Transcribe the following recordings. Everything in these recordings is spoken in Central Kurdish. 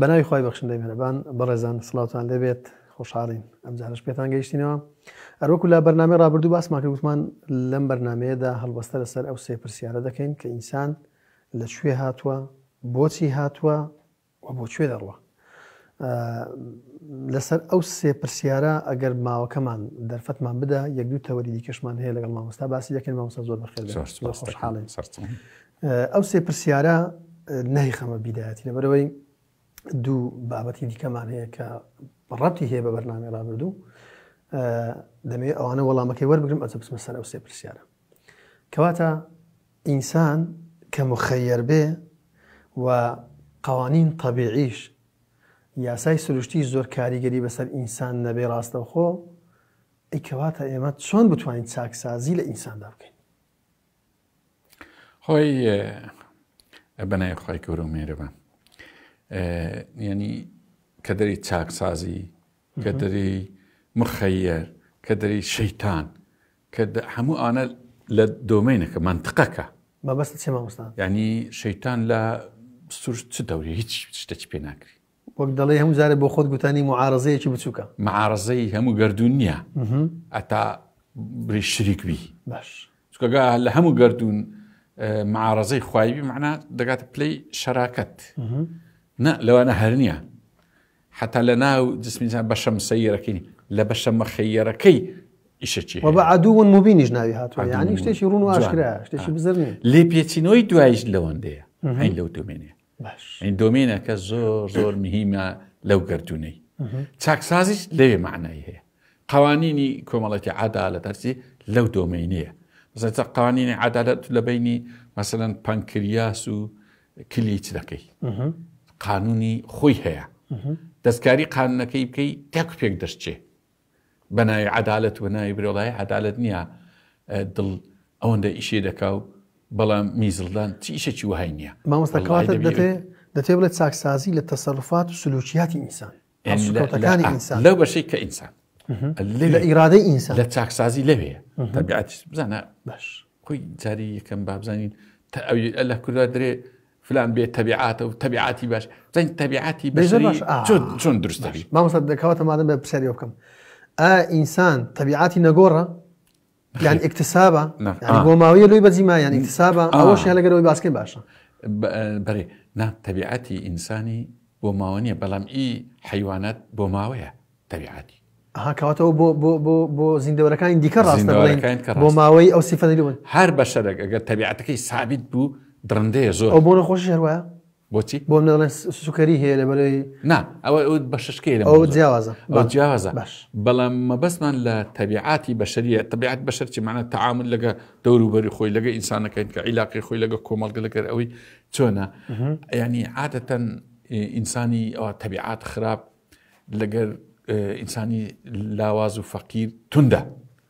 بەناوی خی بەخشندەی مهرەبان بەڕێزان سلااوان لێبێت خۆشحاڵین ئەم جارش پێتان گەیشتینەوە ئەروەکو لە بەرنامی ڕابردوو باسمان کردوتمان لەم بەرنمەیەدا هەڵبەستە لەسەر ئەو سێ پرسیارە دەکەین کە ئینسان لە شوێ هاتووە بۆچی هاتووە و بۆ کوێ دەڕوە لەسەر ئەو سێ پرسیارە ئەگەر ماوەکەمان دەرفەتمان بدە یەک دوو تەوەری دیکەشمان هەیە لەگەڵ مامۆستا باسی یەکەن مامۆستا زۆر بەخێر خۆشحاڵین ئەو سێ پرسیارە نای خەمە بیدایەتی لەبەرەوەی دوو بابەتی دیکەمان هەیە کە ڕەتی هەیە بە بەرنامی ڕابردوو دەمەوێت ئەوانە وەڵامەکەی وەربگرم ئەچە بچمە سەر ئەو سێ پرسیارە کەواتە ئینسان کە موخەیەر بێ و قەوانین تەبیعیش، یاسای سروشتیش زۆر کاریگەری بەسەر ئینسان نەبێ ڕاستەوخۆ، ئەی کەواتە ئێمە چۆن بتوانین چاکسازی لە ئینساندا بکەین؟ خۆی بەنای خی گەورە و مێرەبە یعنی کە دەری چاکسازی کە دەری مخەیەر کە دەری شەیتان کە هەموو ئانە لە دۆمینەکە منتقەکە مەبەست چێ مامۆستا ینی شەیتان لە سوور چ دەوری هیچ شتێکی پێ ناکری وەک دەڵێ هەموو جارێ بۆ خۆت گوتانی معارزەیەکی بچووکە معارزەی هەموو گردردون نییە ئەتا بری شریک بی باش چکەگا لە هەموو گردردون معارزەی خوایبی معنا دەگاتە پلەی شەراکەت نە لەوانە هەر نییە حەتا لە ناو جسمی ئینسان بەشە مسەییەرەکەی نیە، لە بەشە مەخەییەرەکەی ئیشەکی هەیە. وە بە عەدوون موبینیش ناوی هاتووە، عەدوون یانی شتێکی ڕوون و موبین. جوان. ئاشکرایە، شتێکی آه. بزر نیە. لێپێچینەوەی دواییش لەوەندەیە، هەین لەو دۆمێنەیە. باش. ئەین دۆمێنەکە زۆر زۆر مهیمە لەو گەردوونەی. چاکسازیش لەوێ مەعنای هەیە. قوانینی کۆمەڵێکی عەدالەت هەرچی لەو دۆمینەیە. مەسەلەن چا قوانینی عەدالەت لە بەینی مەسەلەن پەنکریاس و کلیی چ دەکەی؟ قانونی خۆی هەیە دەستکاری قانونەکەی بکەی تاکو پێک دەشتچێ بەناوی عدالت و ناوی برۆڵای عدالت نییە دڵ ئەوەندە ئیشێ دەکا و بەڵام میزڵدان چ ئیشێکی وهای نییە مامۆستاکەواتە دەتێ دەتێ بڵێت چاکسازی لە تەسەرفات و سلوکیاتی ئینسان لەو بەشەی کە ئینسان لە ئیرادەی ئینسان لە چاکسازی لەوەیە تەبیعاتیش بزانە باش خۆی جاری یەکەم بابزانین تا ئەوی لە کوردوا درێ فلان بێت تەبیعاتە و تەبیعاتی باش زەنگ تەبیعاتی بەشری چۆن درستە مامۆستا دەکەواتە مادەم بە پرسیاری بکەم ئا ئینسان تەبیعاتی نەگۆڕە یان ئکتسابە بۆ ماوەیە لۆی بەجی ما یان ئکتسابە ئەوەش لەگەرەوەی باسکەی باشە بەێ نا تەبیعەتی ئینسانی بۆ ماوە نیە بەڵام ئی حیوانات بۆ ماوەیە تەبیعاتی هاکەواتەوە بۆ بۆ بۆ بۆ زیندەوەەکانی دیکە ڕاستە بۆ ماوەی ئەو سیفەنەوە هەر بەشەرێک ئەگەر تەبیعاتەکەی سابیت بوو دڕندەیە زۆر بۆ نەخۆش هەروە بۆچی؟ بۆ منە دەڵێن سوکەری هەیە لەبەرەوەی نا ئەوە ئەو بە ششکەی لە ئەو جیاوازە ئەو جیاوازە باش بەڵام مەبەستمان لە تەبیعاتی بەشەریە تەبیعات بەشەر چی معنە تەعامل لەگە دەوروبەری خۆی لەگە ئینسانەکەین کە عیلاقی خۆی لەگە کۆمەڵگە لەگەر ئەوەی چۆنە ینی عادەتەن ئینسانی ئەوە تەبیعات خراپ لەگەر ئینسانی لاواز و فەقیر توندا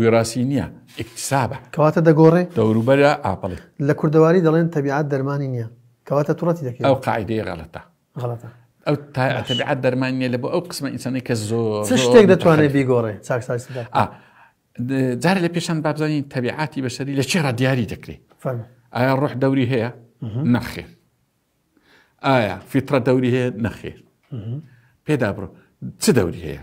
ویڕاسی نییە، ئیکتسابە. کەواتە دەگۆڕێ؟ دەوروبەرە ئاپڵی. لە کوردەواری دەڵێن تەبیعەت دەرمانی نییە. کەواتە توڕەتی دەکەی. ئەو قاعیدەیە غەڵەتە. غەڵەتە. ئەو تەبیعەت دەرمانی نییە لە بۆ ئەو قسمە ئینسانی کە زۆر چ شتێک دەتوانێت بیگۆڕێ چاکسازی دا؟ ئا جارە لە پێشان با بزانین تەبیعاتی بەشەری لە چێڕا دیاری دەکرێت. فەرموو. ئایا ڕۆح دەوری هەیە؟ نەخێر. ئایا فیتڕە دەوری هەیە؟ نەخێر. پێدا بڕۆ چ دەوری هەیە؟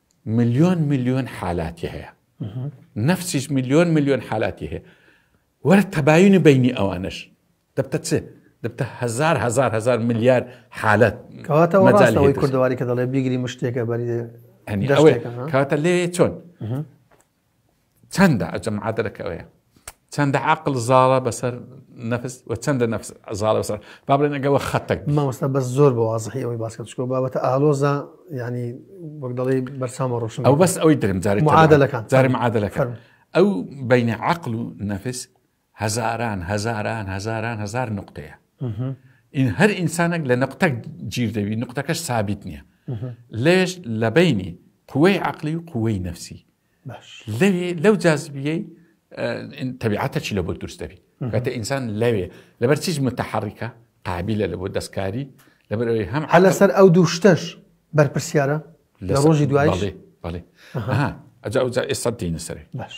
ملیۆن ملیۆن حالاتی هەیە نەفسیش ملیۆن ملیۆن حالاتی هەیە وەرە تەباینی بینی ئەوانش دەبتە چ دەبتە هزار هزار هزار ملیار حالت کەواتەوەی کوردواری کە دەڵێ بیگری مشتێکە بەری کاتە لێ چۆن چەندە ئەجە معادلەکە ئەوەیە چەندە عقل زاڵە بەسەر نفس و چەندە نفس زاڵە بەسەر با بڵێن ئەگەوە خەتەک مامۆستا بەس زۆر بە وازحی ئەوەی باسکە چکۆ بابەتە ئالۆزە ینی وەک دەڵی بەرسامە ڕۆشن ئەو بەس ئەوەی درم جاری معادلەکان جاری معادلەکان ئەو بینە عقل و نفس هەزاران هەزاران هەزاران هەزار نقطەیە ئین هەر ئینسانێک لە نقطە گیر دەوی نقطەکەش سابیت نییە لێش لە بینی قوەی عقلی و قوەی نفسی لەوێ لەو جاذبیەی تەبیعاتە چی لە بۆ دروست دەبی کاتە ئینسان لەوێ لەبەر چیز متحڕیکە قابلە لە بۆ دەستکاری لەبەر ئەوەی هەم هە لەسەر ئەو دوو شتەش بەرپرسیارە لە ڕۆژی دوای بەڵێ ئەجا ئەوجا ئێستا دینە سەرێ باش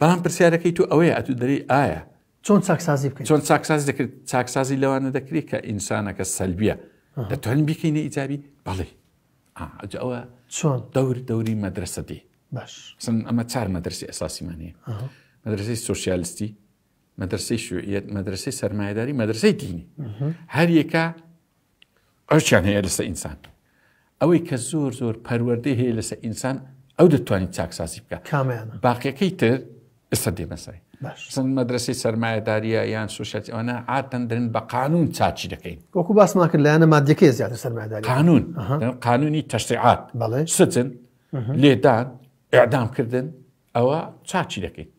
بەڵام پرسیارەکەی تۆ ئەوەیە ئەتو دەری ئایا چۆن چاکسازی بکەین چۆن چاکساز دەکرێت چاکسازی لەوانە دەکرێت کە ئینسانەکە سەلبیە دەتوانین بیکەینە ئیجابی بەڵێ ئەوە چۆن دەور دەوری مەدرسە دی باش ئەمە چار مەدرسی ئەساسیمانەیە مەدرسی سوسیالستی مەدرسی شوعیت مەدرسی سەرمایداری مەدرسی دینی هەر یەکە ڕەوشیان هەیە لەسە ئینسان ئەوەی کە زۆر زۆر پەروەردەی هەیە لەسە ئینسان ئەو دەتوانین چاکسازی بکە کامیان باقیەکەی تر ئێستا دێمەسای سند مەدرسەی سرمایهداریە یان سوشەت ئەوانە ئاتەن درن بە قانون چاچی دەکەین وەکو باسمان کرد لایەنە مادەکە زیاتر سرمایداری قانون قانونی تەشتعات سجن لێدان ئەعدامکردن ئەوە چاچی دەکەیت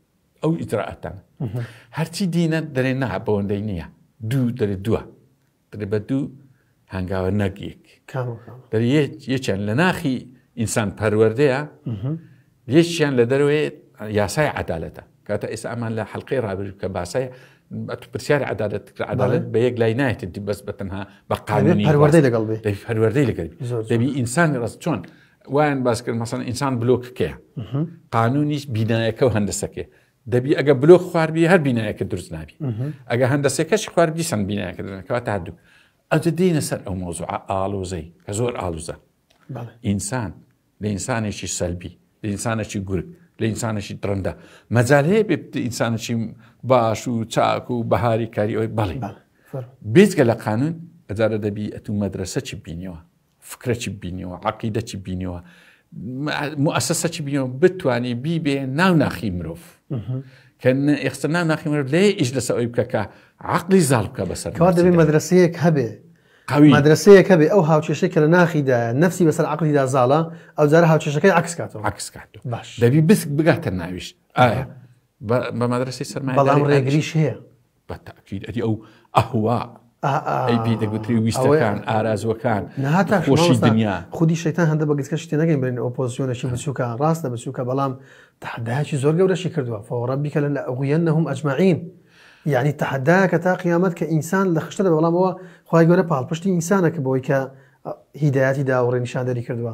ئەو ئیترراعاتان هەرچی دینە دەرێ نەها بەوەندەی نییە دوو دەرێ دووە دەرێ بە دوو هەنگاوە نەک یەک. کامە کامە؟ دەرێ یەک- یەکیان لە ناخی ئینسان پەروەردەیە یەکیان لە دەرەوەی یاسای عەدالەتە کاتە ئێستا ئەمان لە حەلقەی ڕابرد کە باسای ئەتو پرسیاری عەدالەت کرد عەدالەت بە یەک لای نایەتی دی بەس بە تەنها بە دەبێت قانونی پەروەردەی باس- لەگەڵ بێ دەبی پەروەردەی لەگەڵ بی. زۆر زۆر. دەبی ئینسانی ڕاست چۆن وایان باس کرد مەسەن ئینسان بلۆکەکەیە قانونیش بینایەکە و هەندەسەکەی دەبی ئەگە بلۆک خواردبی هەر بینایەکە دروست نابی ئەگە هەندەسێکەشی خوارد دیسان بینایەکە دەکەوە تا دوو ئەجە دینە سەر ئەو مۆزوع ئالۆزەی کە زۆر ئالوزە ئینسان لە ئینسانێکی سەلبی لە ئینسانێکی گورگ لە ئینسانێکی درەندە مەجال هەیە بێت ئینسانێکی باش و چاک و بەهاری کاری ئەوی بەڵی بێزگە لە قانون ئەجارە دەبی ئەتو مەدرسە چی بینیەوە فکرە چی بینیوە عقیدە چی بینیوە موسسە چی بینەوە بتانی بیبێ ناو ناخی مرۆڤ کە ئێخستا ناو ناخی مرۆڤ لێ ئیش لەسە ئەوی بکەکە عقلی زاڵ بکە بەسەر کار دەبێت مەدرسەیەک هەبێ مەدرسەیە کە بێ ئەو هاوچێشە کە لە ناخیدا نفسی بەسەر عقلیدا زاڵە ئەو جارە هاوچێشەکەی عکسکاتەوە عکسکات باش دەبی بس بگاتە ناویش ئایا بە مەدرسی سەرما بەڵام ڕێگریش هەیە بە تاکید ئەدی ئەو ئەهوا ئەی پێی دەگوتری ویستەکان ئارازوەکان نهاتا خۆشی دنیا خودی شەیتان هەندە بە گچکە شتێ نەگەین برین ئۆپۆزیۆنەشی بچووکە ڕاستە بچووکە بەڵام تحداکی زۆر گەورەشی کردووە فۆڕەبیکە لە ئەغویەن نەهم ئەجمعین یعنی تحداکە تا قیامەت کە ئینسان لە خشتە لە بەڵامەوە خخوای گەورە پاڵ پشتی ئینسانە کە بۆی کە هیداەتی داوڕێ نیشاندەری کردووە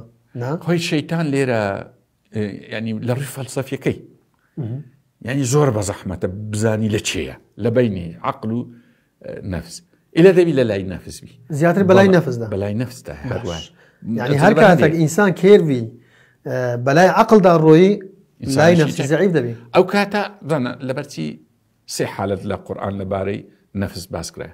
خۆی شەیتان لێرە یعنی لە ڕووی فەلسەفیەکەی یعنی زۆر بە زەحمەتە بزانی لە چێە لە بینی عقل و نەفس ئلە دەبی لە لای نەفسبی زیاتر بەلای نەفسدا بەلای نەفستا هەروان یعنی هەر کاتێک ئینسان کێربی بەلای عقلدا ڕۆیی لای نەفسی زعیب دەبی ئەو کاتە دەنە لەبەرچی سێ حالت لە قورآان لەبارەی نەفس باسکرای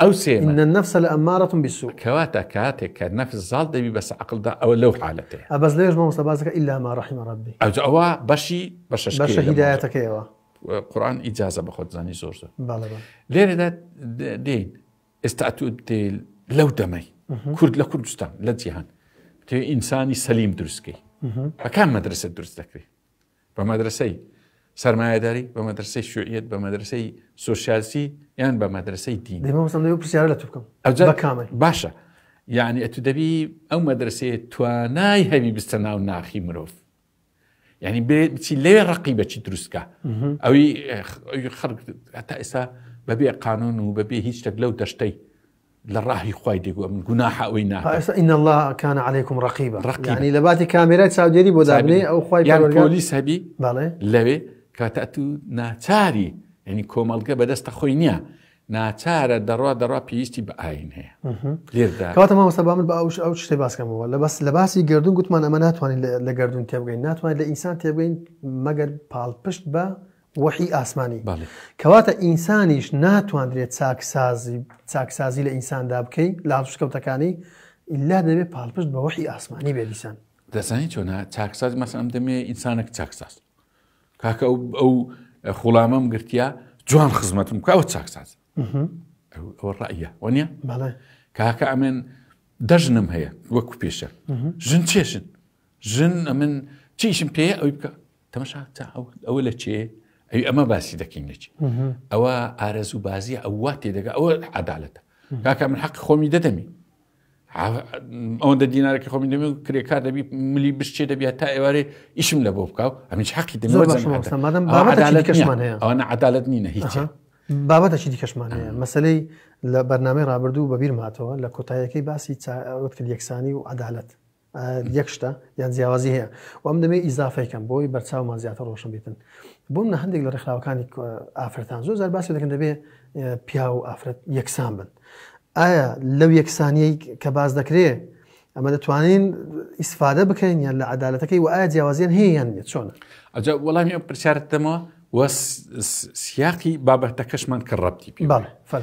ئەو سێمە. ان النفس لامارە بالسوء. کەواتە کاتێک کە نەفس زاڵ دەبی بەسە عەقڵدا ئەوە لەو حالەتەیە. ئەبەس لەوێش مامۆستا باس دەکات الا ما رحم ربی. ئەوجە ئەوە بەشی بەشە شکێ. بەشە هیدایەتەکەیەوە. قورئان ئیجازە بە خۆت زانی زۆر زۆر. بەڵێ بەڵێ. لێرەدا دێین ئێستا ئەتو دێل لەو دەمەی کورد لە کوردستان لە جیهان تێ ئینسانی سەلیم دروستکەی بەکان مەدرسە دروست دەکرێت بە مەدرەسەی سەرمایەداری، بە مەدرەسەی شوعیەت، بە مەدرەسەی سۆسیالسی یان بە مەدرەسەی دین. دەی مامۆستا لەوێ پرسیارە لە تو بکەم. ئەوجا بە کامل. باشە. یعنی ئەتو دەبی ئەو مەدرسەیە توانای هەبی بستە ناو ناخی مرۆڤ. یعنی بێ بچی لەوێ ڕقی بەچی دروستکە ئەوی خەڵک هەتا ئێستا بەبێ قانون و بەبێ هیچ شتێک لەو دەشتەی لە ڕاهی خوای دەگوە من گوناحە ئەوەی نا ئێستا ان الله کان علیکم رقیبا رقیبا. یعنی لە باتی کامێرای چاودێری بۆ دابنێ ئەو خوای یان پەروەردگار- پۆلیس هەبی بەڵێ لەوێ کاتە تو ناچاری یعنی کۆمەڵگە بەدەستە خۆی نییە ناچارە دەڕوا دەڕوا پێویستی بە ئاین هەیە لێردا کەواتە مامۆستا با من بە ئەوش ئەو شتێ باسکەمەوە لە بەس لە باسی گردون گوتمان ئەمە ناتوانین لە- لە گردون تێبگەین ناتوانین لە ئینسان تێبگەین مەگەر پاڵپشت بە وەحی ئاسمانی. کەواتە ئینسانیش ناتواندرێ چاکسازی چاکسازی لە ئینساندا بکەی لە هەڵسوکەوتەکانی، ئیلا دەبێ پاڵپشت بە وەحی ئاسمانی بێ دیسان. دەزانی چۆنە چاکساز مەسە ئەم دەمێ ئینسانێک چاکساز کاکە ئەو ئەو خوڵامەم گرتیا جوان خزمەتم کاوە چاکساز ئەوە ڕایە وە نیە کاکە ئەمێن دەژنم هەیە وەکو پێشە ژن چێشن ژن ئەمن چیشم پێ ئەوی بکە تەمەشا ئەوە لە چێ ئەوی ئەمە باسی دەکەین لە چی ئەوە ئارەز و بازیە ئەووا تێدەگە ئەوە عدالەتە کاکە من حەق خۆمی دەدەمی ئەوەندە دینارەکە خۆمی دەمێ و کرێکار دەبی ملی بشتێ دەبیات تا ئێوارێ ئیشم لە بۆ بکاو ئەمیش حەقی دەمەوەەوەە عدالت نینە هیچ بابەتەکی دیکەشمان هەیە مەسلەی لە بەرنامەی رابرردوو بەبییر ماتەوە لە کۆتایەکەی باسی وت کرد یەکسانی و عدالت یەک شتە یان جیاوازی هەیە و ئەم دەمێ ئیزافەی کەم بۆی بەرچاومان زیاتر ڕۆشن بیتن بووم نە هەندێک لە ڕێکخراوەکانی ئافرەتان زۆر زار باسی دەکەن دەبێ پیا و ئافرەت یەکسان بن ئایا لەو یەکسانیی کە باز دەکرێ ئەمە دەتوانین ئیسفادە بکەین یان لە عدالەتەکەی و ئایا جیاوازیان هەیەیان نیە چۆن ئەجا وەڵامی ئەم پرسیارت دەمەوە وە سیاقی بابەتەکەشمان کە ڕەتی پێ فەر.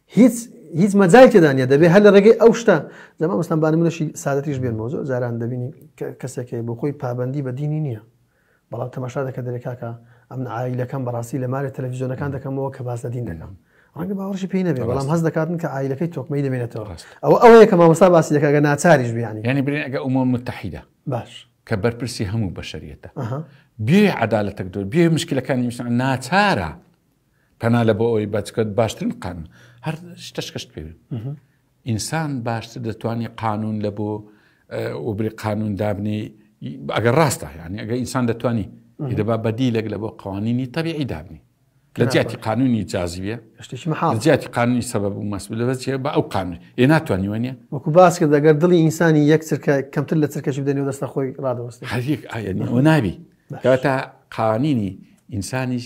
هیچ هیچ مەجای تێدانە دەبێ هەر لە ڕێگەی ئەو شتە لەمە مەستان بانمونەشی سادەتیش بێن بۆ زۆر جاران دەبینی کەسێکی بۆ خۆی پابندی بە دینی نییە بەڵام تەماشا دەکە دەرێکاکە ئەم ئایلەکەم بەڕاستی لە مارە تەلەڤزیۆنەکان دەکەمەوە کە باز لە دین دەکەم ڕەنگە باوەڕشی پێی نەبێ بەڵام هەز دەکاتن کە ئایلەکەی تۆکمەی دەمێنێتەوە ئەو ئەوەیە کە مامەسا باسی دەکەگە ناچاریش بیانی ینی برێن ئەگە ئەومە متحیدا باش کە بەرپرسی هەموو بەشریەتە بێ عدالەتەک دۆر بێ مشکلەکانی میسان ناچارە پەنا لە بۆ ئەوی بەچکەت باشترین قان هەر شتەشکەشت پێ ئینسان باشتر دەتوانانی قانون لە بۆ وبری قانون دابنی ئەگەر ڕاستە یعنی ئەگە ئینسان دەتوانی دەبا بەدی لەگ لە بۆ قوانینی تەبیعی دابنی لە جیاتی قانونی جازیە جیاتی قانونی سەبەب و مەسب لە بەچێ بە ئەو قانون ئێ ناتوانانی وە نیە وەکو باس کرد دەگەر دڵی ئینسانی یەک چرکە کەمتر لە چرکەش بدەنی و دەستە خۆی ڕادەوەست هەریەک ئاەوە نابی کەواتە قانینی ئینسانیش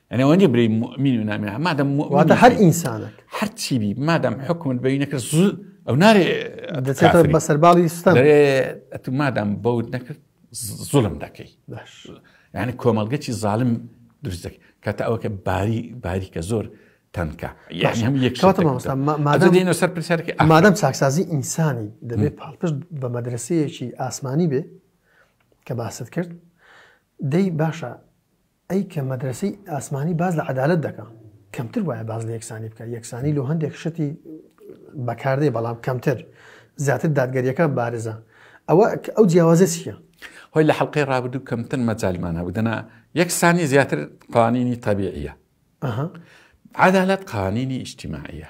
ئەنێ وەنی بری مؤمن و نامی مادەم واتە هەر ئینسانێک هەر چی بی مادەم حکومت بەی نەکرد زوو ئەو نارێ دەچێتە بەسەر باڵی ستا ئەتو مادەم بەوت نەکرد زوڵم دەکەی یعنی کۆمەڵگەچی زالم دروست دەکەی کاتە ئەوکە باری باری کە زۆر تەنکە یەکشتمادەینە سەر پرسیارکی ئامادەم چاکسازی ئینسانی دەبێت پاڵپشت بە مەدرسەیەکی ئاسمانی بێ کە باست کرد دەی باشە ئەی کە مەدرەسەی ئاسمانی باس لە عەدالەت دەکا کەمتر وایە باز لە یەکسانی بکە یەکسانی لۆ هەندێک شتی بەکاردەی بەڵام کەمتر زیاتر دادگەریەکە بارزە ئەوە ئەو جیاوازە چییە؟ هۆی لە حلقەی ڕابدوو کەمتر مەجالمان هەبوو دەنا یەکسانی زیاتر قوانینی تەبیعە عادالەت قوانینی ئیشتیماعە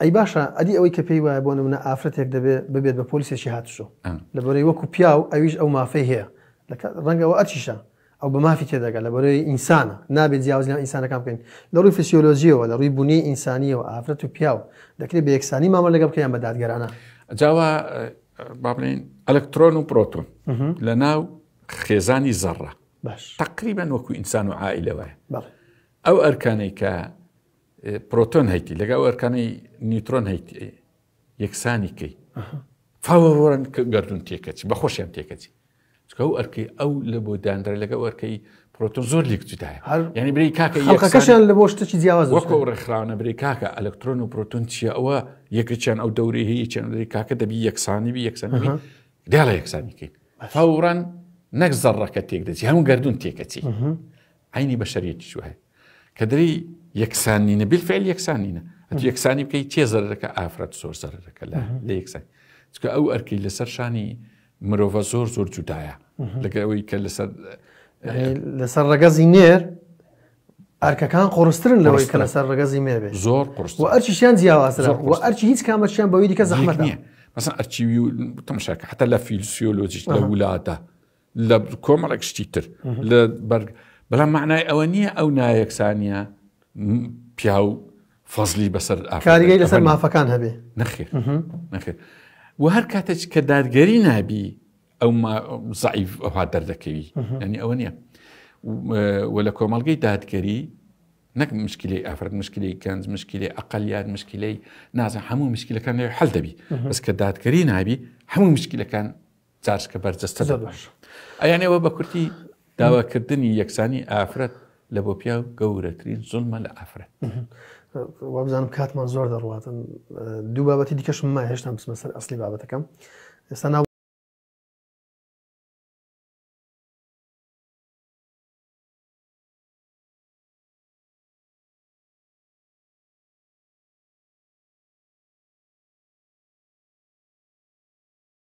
ئەی باشە ئەدی ئەوەی کە پێی وایە بۆ نمونە ئافرەتێک دەبێ ببێت بە پۆلیسێکی هاتوچۆ لەبەرەی وەکو پیاو ئەویش ئەو مافەی هەیە ڕەنگەوە ئەرچیشە ئەو بە مافی تێدەگە لە بەرەی ئینسانە نابێت جیاواز لە ئینسانەکان بکەین لە ڕووی فسیۆلۆژیەوە لە ڕووی بوونی ئینسانیەوە ئافرەت و پیاو دەکرێت بە یەکسانی مامە لەگەڵ بکەیان بە دادگەرانە جاوا با بڵین ئەلکترۆن و پرۆتون لە ناو خێزانی زەڕە تقریبان وەکو ئینسان و عائلەوەە ئەو ئەرکانەی کە پرۆتۆن هەیتی لەگەڵ ئەرکانی نیوترۆن هەیتی یەکسانی کەی فاوەڕۆن گردون تێکەچی بە خۆشیان تێکەچی چکە و ئەرکی ئەو لە بۆ دانرە لەگە ئەرکەی پرۆتۆن زۆر لێک جدایە ینی بری کاکەکەشیان لە بۆ شتێکی جیاواز وەکو ڕێکخراونە بری کاکە ئەلکترۆن و پرۆتون چیە ئەوە یەکێکیان ئەو دەوری هەیە چێن بری کاکە دەبی یەکسانی بی یەکسانی دێڵە یەکسانی کەین فوران نەک زەڕەکە تێک دەچی هەموو گردون تێکەچی عەینی بەشەریەتیش وایە کە دەری یەکسان نینە بیلفعل یەکسان نینە ئەتو یەکسانی بکەی تێ زەرەکە ئافرەت زۆر زەرەکە لە لە یەکسان چکە ئەو ئەرکی لەسەر شانی مرۆڤە زۆر زۆر جودایە لەگە ئەوەی کە لەسەر لەسەر ڕەگەزی نێر ئەرکەکان قڕسترن لەوەی کە لەسەر ڕگەزی مێبێ زۆر قرس و ئەرچیشیان جیاوازرا و ئەرچی هیچ کامەشیان بەوەی دیکە زەحمەت نیە مەسن ئەرچی و تەمشاکە حتا لە فیلسیۆلۆجیش لە وولاتە لە کۆمەڵێک شتی تر لە بەرگ بەڵام معنای ئەوە نییە ئەو نایەکسانیە پیاو فەزلی بەسەر ئاکاریگەی لەسەر مافەکان هەبێ نەخێ نەخێ و هەر کاتێک کە دادگەری نابی ئەو زعیف ئەوها دەردەکەوی ینی ئەوە نییە و لە کۆمەلگەی دادگەری نەک مشکلی ئافرەت مشکلی گەنج مشکلی ئەقلیات مشکلی نازە هەموو مشکلەکان حل دەبی بەس کە دادگەری نابی هەموو مشکلەکان جاشکە بەرجەستە زۆر باش ئەیان ئێوە بە کورتی داواکردنی یەکسانی ئافرەت لە بۆ پیا و گەورەترین زۆنمە لە ئافرەت وابزانم کاتمان زۆر دەڕاتن دوو بابەتی دیکەشم ما هێشتا بسمە سەر ئەسلی بابەتەکەم ئێستا ناو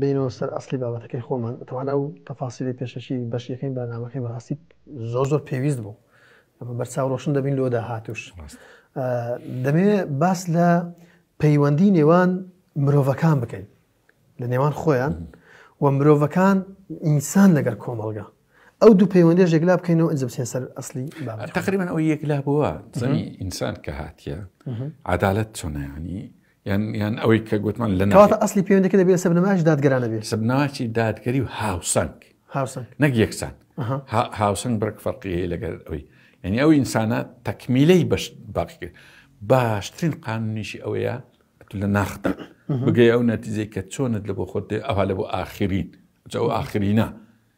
بێینەوە سەر ئەسڵی بابەتەکەی خۆمان بەتەمان ئەو تەفاسیلی پێشەکی بەش یەکەمی بەرنامەکەی بەڕاستی زۆر زۆر پێویست بوو بەرچاو ڕۆشن دەبین لۆ داهاتوش دەمێ باس لە پەیوەندی نێوان مرۆڤەکان بکەین لە نێوان خۆیان و مرۆڤەکان ئینسان لەگەر کۆمەڵگە ئەو دوو پەیوەندێش یەکلا بکەینەوە ئەنجم سێن سەر ئەسلی تقریبان ئەو یەکلا بووە زەنی ئینسان کە هاتیە عدالت چۆنەیانی یان ئەوەی کە گوتمان لە ناواتە ئەسلی پێوەندەکە دەبێت سە بنەماش دادگرانە بێت سەبناچی دادگەری و هاوسەنگ هاوسەنگ نەک یەکسان هاوسەنگ بڕک فەرقیەیە لەگەر ئەوی یعنی ئەو ئینسانە تەکمیلەی بەش باقی کرد باشترین قانونیشی ئەوەیە لە ناخدا بگەی ئەو نەتیزەی کە چۆنت لە بۆ خۆت ئەوها لە بۆ ئاخرین ئەو ئاخرینە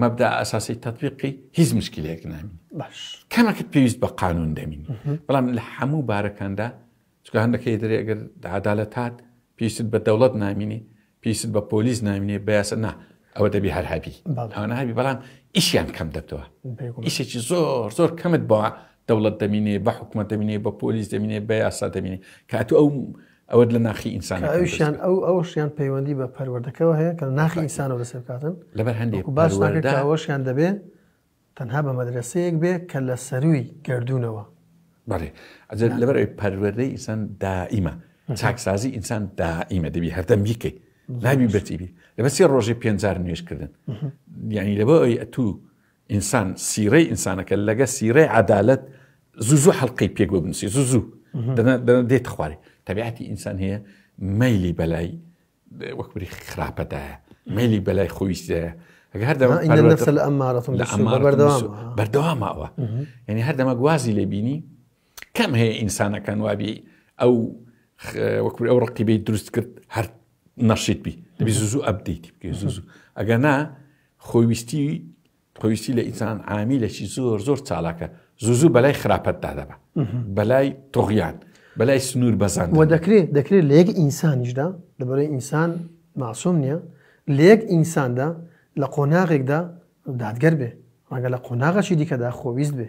مەبدا ئەساسی تەتبیقی هیچ مشکلەیەک نامین باش کەمەکەت پێویست بە قانون دەمین بەڵام لە هەموو بارەکاندا چکە هەندەکەی دەرێ ئەگەر عدالەت هات پێویست بە دەوڵەت نامینی پێویست بە پۆلیس نامینێ بەیاسە نا ئەوە دەبی هەر هەبی ئەوە هەبی بەڵام ئیشیان کەم دەبتەوە ئیشێکی زۆر زۆر کەمت بەوە دەوڵەت دەمینێ بە حکوومەت دەمینێ بە پۆلیس دەمینێ بە یاسا دەمینێ کاتو ئەو ئەوەت لە ناخی ئینسان ئەویشیان ئەو ئەوشیان پەیوەندی بە پەروەردەکەەوە هەیە کە ناخی ئینسانەوە لەسێ بکاتن لەبەر هەندێک باشەوەشیان دەبێ تەنها بە مەدرسەیەک بێ کە لە سەروی گردردونەوە بەێ ئەجر لەبەر پەروەردەی ئینسان دائیمە چاکسازی ئینسان دائیمە دەبی هەردەم بیکەی ناوی بەتیبی لەبەر سێ ڕۆژی پێنجار نوێشکردن یعنی لەبەر ئەوی ئەتوو ئینسان سیرەی ئینسانەکە لەگە سیرەی عدالت زوو زوو حلقەی پێک بۆ بنووسی زوو زوو دێت خوارێ تەبیعەتی ئینسان هەیە مەلی بەلای وەکبری خراپەدایە مەلی بەلای خۆویستەیە ئەگە هەردەوە بەردەوامەوە یعنی هەردەمە گوازی لێبینی کەم هەیە ئینسانەکان وابی ئەو وەکوور ئەو ڕقیبی دروست کرد هەر نەشیت بی دەبی زوو ئەبدیتی بکە زوو ئەگە نا خۆویستی خۆویستی لە ئینسان عامیلێکی زۆر زۆر چالاکە زوو زوو بەلای خراپەتدا دەبە بەلای تۆغیان بەلای سنوور بەزان و دەکرێت دەکرێت لە یەک ئینسانیشدا لەبەرەی ئینسان ماسۆم نییە لە یەک ئینساندا لە قۆناغێکدا دادگەر بێ ڕەنگە لە قۆناغەشی دیکەدا خۆویست بێ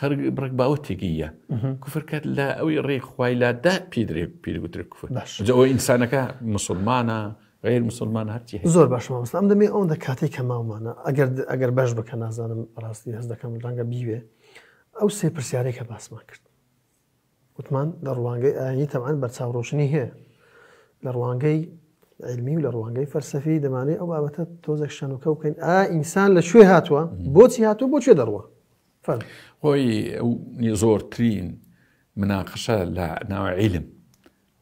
خەرک بڕک باوە تێگەی یە کوفر کات لە ئەوی ڕێ خوای لادا پیدرێ پیرگوتر کوفر جەوە ئینسانەکە مسلمانە غیر مسلمان هەرچی زۆر باشمان مسلام دەمێ ئەوەندە کاتێک کە ماومانە ئەگەر ئەگەر بەش بکە نازانم ڕاستی هەز دەکەم ڕەنگە بیوێ ئەو سێ پرسیارێکە باسمان کرد وتمان لە ڕوانگەی ئاینی تەبعەن بەرچاوڕۆشنی هەیە لە ڕوانگەی علمی و لە ڕوانگەی فەرسەفی دەمانێ ئەو بابەتە تۆزێک شەنوکە بکەین ئا ئینسان لە شوێ هاتووە بۆچی هاتوو بۆ شوێ دەڕوە خۆی ئەو زۆرترین مناقشە لە ناوە عیلم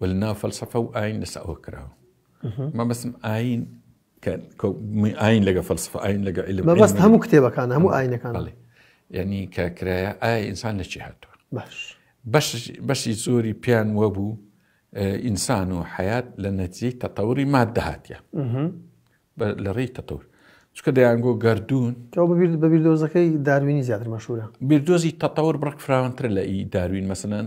و لە ناو فەلسەفە و ئاین لەسەوە کراوە مەبەسم ئاین کە ئاین لەگە فەلسفە ئاین لەگە علم مەبەست علم هەموو کتێبەکان هەموو ئاینەکان بەڵێ یعنی کە کرایە ئایا ئینسان لە چی هاتووە باش بەش بەشی زۆری پیان وەبوو ئینسان و حیات لە نەتیجەی تەتەوری مادە هاتیە لە ڕێی تەتەور چکە دەیانگۆ گردردون تۆ ببیرت بە بیردۆزەکەی داروینی زیاتر مەشورە بیردۆزی تەتەور بڕک فراونتر لە ئی داروین مەسنەن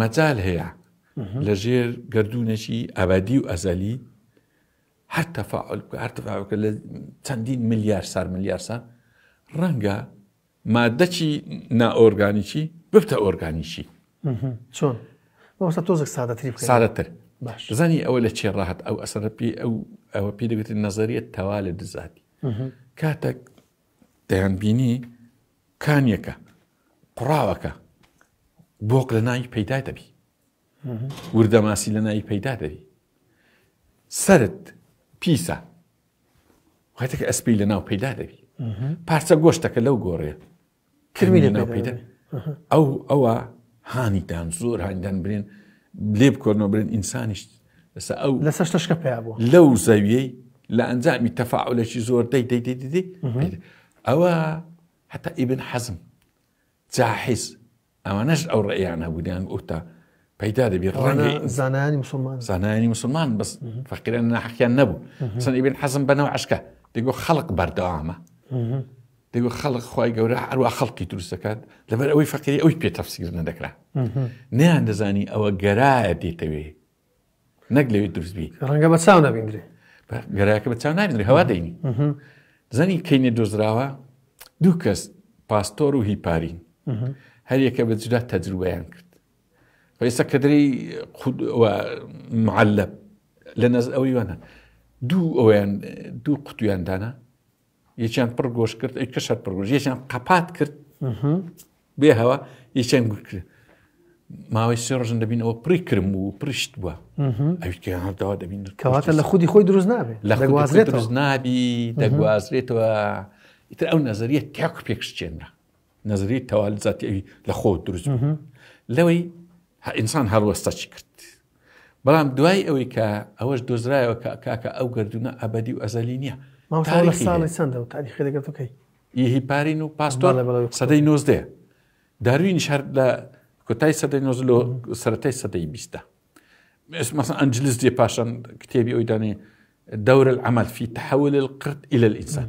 مەجال هەیە لە ژێر گەردوونێکی ئەبەدی و ئەزەلی هەر تەفاعل بکە هەر تەفاعل بکە لە چەندین ملیار سار ملیار سار ڕەنگە مادەکی نائۆرگانیکی ببتە ئۆرگانیکی چۆن مەوەستا تۆزێک سادەتری بکە. سادەتر باش زانی ئەوە لە چێ ڕاهات ئەو ئەسەرە پێ ئەو ئەوە پێ دەگوتن نەزەریە تەوا لە دزاتی کاتێک دەیان بینی کانیەکە قوڕاوەکە بۆق لە ناوی پەیدا دەبی وردەماسی لە ناوی پەیدا دەبی سرت پیسە واتەکە ئەسپی لە ناو پەیدا دەبی پارچە گۆشتەکە لەو گۆڕێ کرمی لە ناو پەیدا ئەو ئەوە هانیدان زۆر هاندان برێن لێ بکۆنەوە برێن ئینسانیش لەسە ئەو لە سەشتەشکە پێ بوو لەو زەویەی لە ئەنجامی تەفاعلێکی زۆر دەی دەی دەی دەی ئەوە حەتا ئیبن حەزم، جاحیز، ئەوانەش ئەو ڕێیان هەبوو دەیان ئوتا پەیدا دەبی ڕەنگی زانانی مسلمان زانانی مسلمان بەس فەقیران ناحقیان نەبوو سن ئیبن حەزم بەنەوە عشکە دەگو خەڵق بەردەوامە دەگو خەڵق خی گەورە هەروە خەڵکی دروست دەکات لەبەر ئەوەی فەقیری ئەوی پێ تەفسیر نەدەکرا نیان دەزانی ئەوە گەرایە دێتەوێ نەک لەوێ دروست بی ڕەنگە بە چاو نەبیندرێ گەراکە بە چاو نابێت هەوا دەینی زەنی کەینە دۆزراوە دوو کەس پاستۆر و هیپارین هەریەکە بە جدا تەجروبیان کرد ئێستا کەدرری معلب لە نەز ئەوەی وانە دوو ئەویان دوو قوتویان دانا یەکیان پڕ گۆش کرد ئەی کەشەر پڕگۆش یەکیان قەپات کرد بێ هەوا یەکیان گوت کرد ماوەی سێ ڕژن دەبین ئەوە پڕی کرم بوو پرشت بووە ئەویکەهانداوا دەبین کەواتە لە خودی خۆی دروست نابێت لە خوازرێت دروست نابی دەگوازرێتەوە ئیتر ئەو نەزریە تاکو پێکشتێنرا نەزەریەی تەوال زاتی ئەوی لە خۆ دروست لەوەی ئینسان هەڵوەستە چی کرد بەڵام دوای ئەوەی کە ئەوەش دۆزرایەوە کە کاکە ئەو گردونە ئەبدی و ئەزەلی نییە ساڵی چەندە و تاریخی دەگەتەکەی یهی پارین و پاستۆ سەدەی نۆزدێ داروین شار لە کۆتای سەدەی نۆز لۆ سەتای سەدەی بیستە مەسن ئەنجلس دێ پاشان کتێبی ئەوی دانێ دەورە ئەمەل فی تحول القرد إلى الإنسان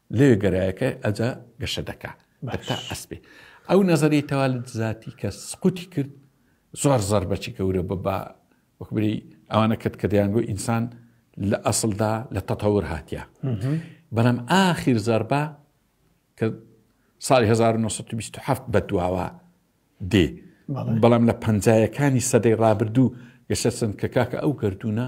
لەوێ گەرایەکە ئەجا گەشە دەکا تا ئەسپێ ئەو نەزەری تەوالت زیاتی کە سقوتی کرد زۆر زەر بەچی گەورە بە بە وەکبری ئەوانە کرد کە دەیانگو ئینسان لە ئەسلدا لە تەتەور هاتیە بەڵام ئاخیر زەربە کە ساڵی 1920 بە دواوە دێ بەڵام لە پەنجایەکانی سەدەی ڕابردوو گەشە سند کە کاکە ئەو گردونە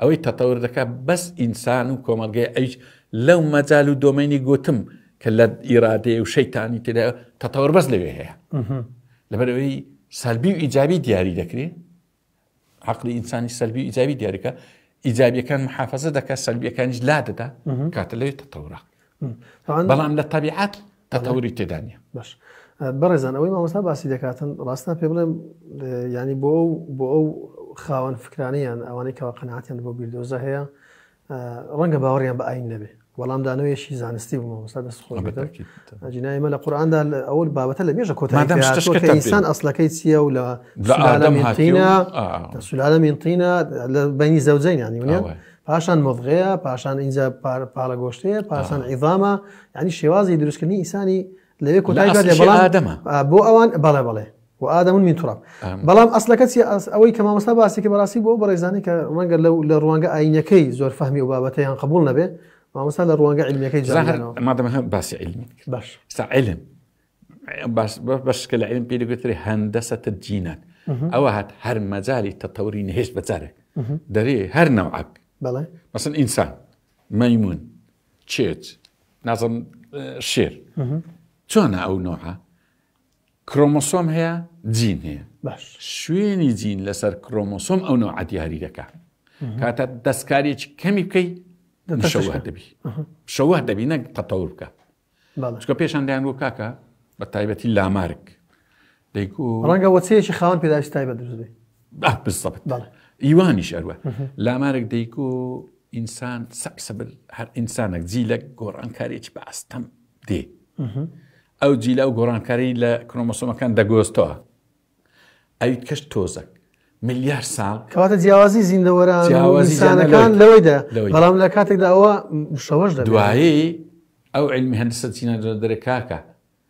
ئەوەی تەتەور دەکات بەس ئینسان و کۆمەڵگەی ئەویش لەو مەجال و دۆمەینی گوتم کە لە ئیرادەیە و شەیتانی تێدا تەتەور بەس لەوێ هەیە لەبەرەوەی سەلبی و ئیجابی دیاری دەکرێت عقلی ئینسانی سەلبی و ئیجابی دیارەکە ئیجابیەکان محافظە دەکات سەلبیەکانیش لا دەدا کاتە لەوێت تەتەورە بەڵام لە طبیعات تەتەوری تێدا نیە. باش بەڕێزان ئەوەی مامۆستا باسی دەکاتن ڕاستە پێ بڵێم ینی بۆ ئەو بۆ ئەو خاوەن فکرانیان ئەوانەی کەوا قەناتیان بۆ بیردۆزە هەیە ڕەنگە باوەڕیان بە ئاین نەبێ وەڵام دانەوەیشی زانستی بوو مامۆستا دەست خۆ جنای مە لە قورآاندا ئەوەل بابەتە لە مێژە کۆتایسان ئەسلەکەی چییە و لە سولالە مینتینە لە بینی زەوجین ینی پاشان مۆڤغەیە پاشان اینجا پاڵە گۆشتەیە پاشان ئیڤامە ینی شێوازی دروستکردنی ئینسانی لەوێ کۆتای ئادەمە بۆ ئەوان بەڵێ بەڵێ و ئادەمون من تڕاب بەڵام ئەسلەکە چی ئەوەی کە مامۆستا باسی کە بەڕاستی بۆ بەڕێزانانی کە ڕەنگە لەو لە ڕوانگە ئاینەکەی زۆر فەهمی و بابەتەیان قبول نەبێ مامۆستا لە ڕوانگە علمەکەی مادەمە باسی علمی باش سا علم بەشکە لە علم پێ دەگوترێ هەندەسە تجینات ئەوە هات هەر مەجای تەتەوری نهێشت بەجارێک دەرێ هەر نەوعک بەڵێ مەسن ئینسان مەمون چێت نازم شێر چۆنە ئەو نۆعە کرۆمۆسۆم هەیە جین هەیە شوێنی جین لەسەر کرۆمۆسۆم ئەو نۆ عدیاری دەکە کاتە دەستکارێکی کەمی بکەی شەوە دەبی شەوە دەبی نەک قەتەور بکە چکە پێشاندایان بۆ کاکە بە تایبەتی لامارک دەیکو. ڕەنگە وەچەیەکی خاوەن پێداویستی تایبەت دروست بێ. بە بالضبط بەڵێ. ئیوانیش ئەروە لامارێک دەیکو ئینسان سەکسبل هەر ئینسانێک جیلە گۆڕانکارێکی بە ئەستەم دێ ئەو جیلا و گۆڕانکاری لە کرۆمۆسۆمەکان دەگۆستەوە ئەویت کەش تۆزەک ملیار ساڵ کەواتە جیاوازی زیندەوەران جیاوازیانەکان لەوەیدا بەڵام لە کاتێکدا ئەوە شەوەش دوایی ئەو علمی هەندسە چینە دەرەکاکە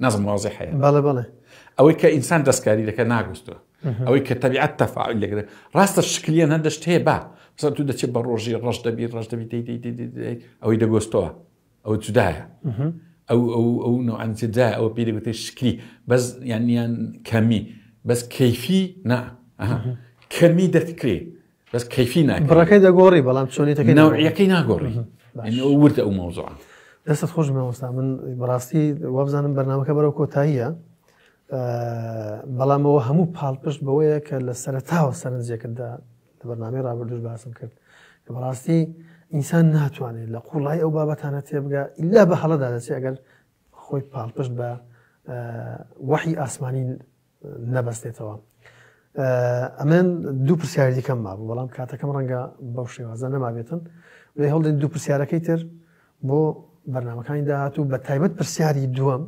نازم واضح هەیە بەڵێ بەڵێ ئەوەی کە ئینسان دەستکاری دەکە ناگوستوە ئەوەی کە تەبیعەت تەفاعل لەگرێت ڕاستە شکلیان هەندە شت هەیە با بسە تو دەچێت بە ڕۆژی ڕەش دەبی ڕەش دەبی دەی دەی دەی دەی دەی ئەوەی دەگۆستەوە ئەو جودایە ئەو ئەو ئەو نوعان جدا ئەو پێ دەگوتێت شکلی بەس یانیان کەمی بەس کەیفی نا ئەها. کەمی دەتکرێ بەس کەفی ناکە بڕەکەی دەگۆڕی بەڵام چۆنیتەکە ناوعەکەی ناگۆڕی وردە ئەو مەوزوعە دەستت خۆش مەوەستا من بەڕاستی وابزانم بەرنمەکە بەرەو کۆتاییە بەڵامەوە هەموو پاڵپشت بەوەیە کە لە سەرتاوە سەرنجێکتدا لە بەرنامی ڕابردوش باسم کرد کە بەڕاستی ئینسان ناتوانێت لە قوڵای ئەو بابەتانە تێبگە ئللا بە هەڵەدا دەچێت ئەگەر خۆی پاڵپشت بە وەحی ئاسمانی نەبەستێتەوە. ئەمن دوو پرسیاری دیکەم مابوو بەڵام کاتەکەم ڕەنگە بەو شێوازە نەمابێتن لێ هەڵدەین دوو پرسیارەکەی تر بۆ بەرنمەکانی داهات و بە تایبەت پرسیاری دووەم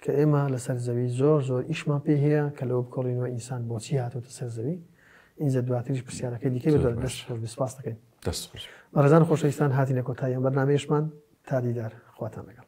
کە ئێمە لەسەر زەوی زۆر زۆر ئیشمان پێ هەیە کە لەوە بکۆڵینەوە ئینسان بۆچی هاتۆتە سەر زەوی ئینجا دواتریش پرسیارەکەی دیکە دەست خۆش بسپاس دەکەین دەست خۆش بەڕێزان خۆشەویستان هاتینە کۆتاییان بەرنمەیەشمان تا دیدار خواتان لەگەڵ